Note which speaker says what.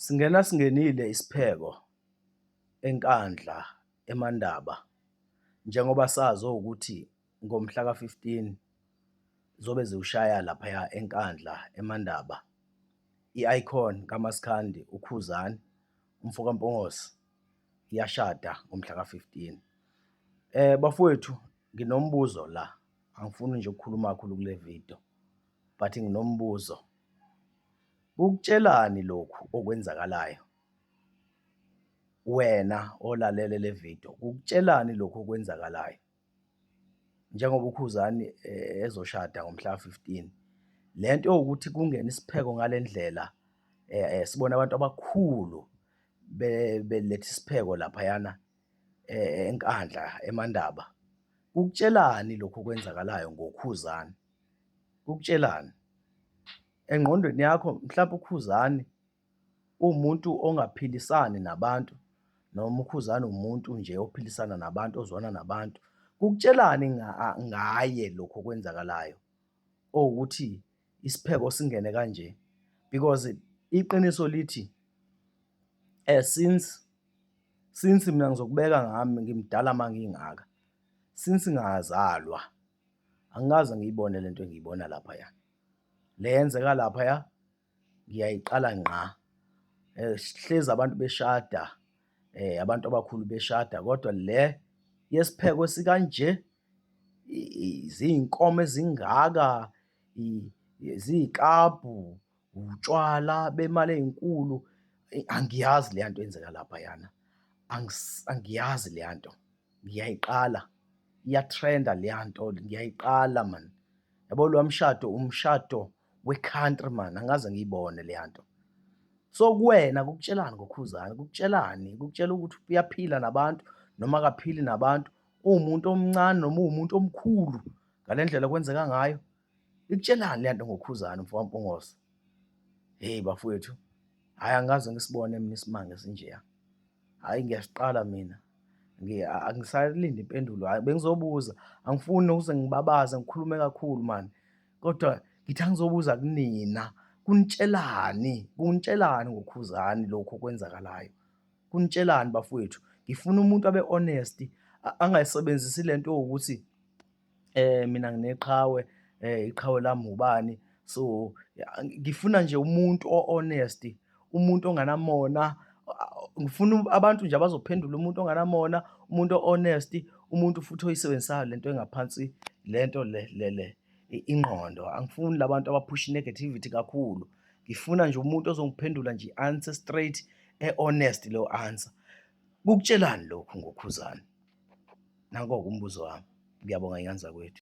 Speaker 1: Singena singenile isipheko eNkandla eMandaba njengoba sazi ukuthi ngomhla ka-15 zobe ziwushaya laphaya eNkandla eMandaba i-icon kaMaskandi uKhuzani umfo kaMpongose iyashada ngomhla ka-15. Eh bafowethu nginombuzo la angifuni nje ukukhuluma kakhulu kule video but nginombuzo. Kukutshelani lokhu okwenzakalayo? Wena olalele le video, kukutshelani lokhu okwenzakalayo? Njengoba uKhuzani eh, ezoshada ngomhla 15 lento yokuthi kungena isipheko ngalendlela eh, eh, sibona abantu abakhulu beletha isipheko lapha yana eh, enkandla emandaba kukutshelani lokho kwenzakalayo ngokhuzani kukutshelani Engqondweni yakho mhlawumbe uKhuzani uwumuntu ongaphilisani nabantu noma uKhuzani umuntu nje ophilisana nabantu ozwana nabantu. Kukutshelani ngaye lokho okwenzakalayo owukuthi isipheko singene kanje because iqiniso lithi eh since since mina ngizokubeka ngami ngimdala mangingaka since ngazalwa angikaze ngiyibone lento engiyibona lapha ya. le yenzeka laphaya ngiyayiqala ngqa. Sihlezi abantu beshada, abantu abakhulu beshada kodwa le yesipheko esikanje, ziy'nkomo ezingaka, ziy'klabhu, utshwala bemali ey'nkulu, angiyazi leya nto eyenzeka laphayana, angiyazi leya nto. Ngiyayiqala, iyatrenda leya nto ngiyayiqala mani. Yabo lowa mshado umshado we-country mani, angaze ngiyibone leya nto. So kuwena kukutshelani ngokhuzani, kukutshelani, kukutshela ukuthi uyaphila nabantu noma akaphili nabantu, uwumuntu omncane noma uwumuntu omkhulu ngale ndlela kwenzeka ngayo, Ikutshelani le nto ngoKhuzani mfokaMpungose? Hheyi bafowethu, hhayi angaze ngisibone mina isimanga esinjeya. Hhayi ngiyasiqala mina. Angisalindi impendulo, hhayi bengizobuza. Angifuni nokuze ngibabaze ngikhulume kakhulu mani. Kodwa ngithi angizobuza kunina, kunitshelani? Kunitshelani ngoKhuzani lokhu okwenzakalayo? Kunitshelani bafowethu? Ngifuna umuntu abe honest, angayisebenzisi le nto yokuthi eh mina ngineqhawe eh iqhawe lami ubani so ngifuna nje umuntu o-honest umuntu onganamona ngifuna abantu nje abazophendula umuntu onganamona umuntu o-honest umuntu futhi oyisebenzisayo lento engaphansi lento le le le ingqondo angifuni labantu abaphusha negativity kakhulu ngifuna nje umuntu ozongiphendula nje answer straight e-honest leyo answer Kukutshelani lokhu ngoKhuzani? Nanko-ke umbuzo wami. Ngiyabonga, Nyanzakwethu.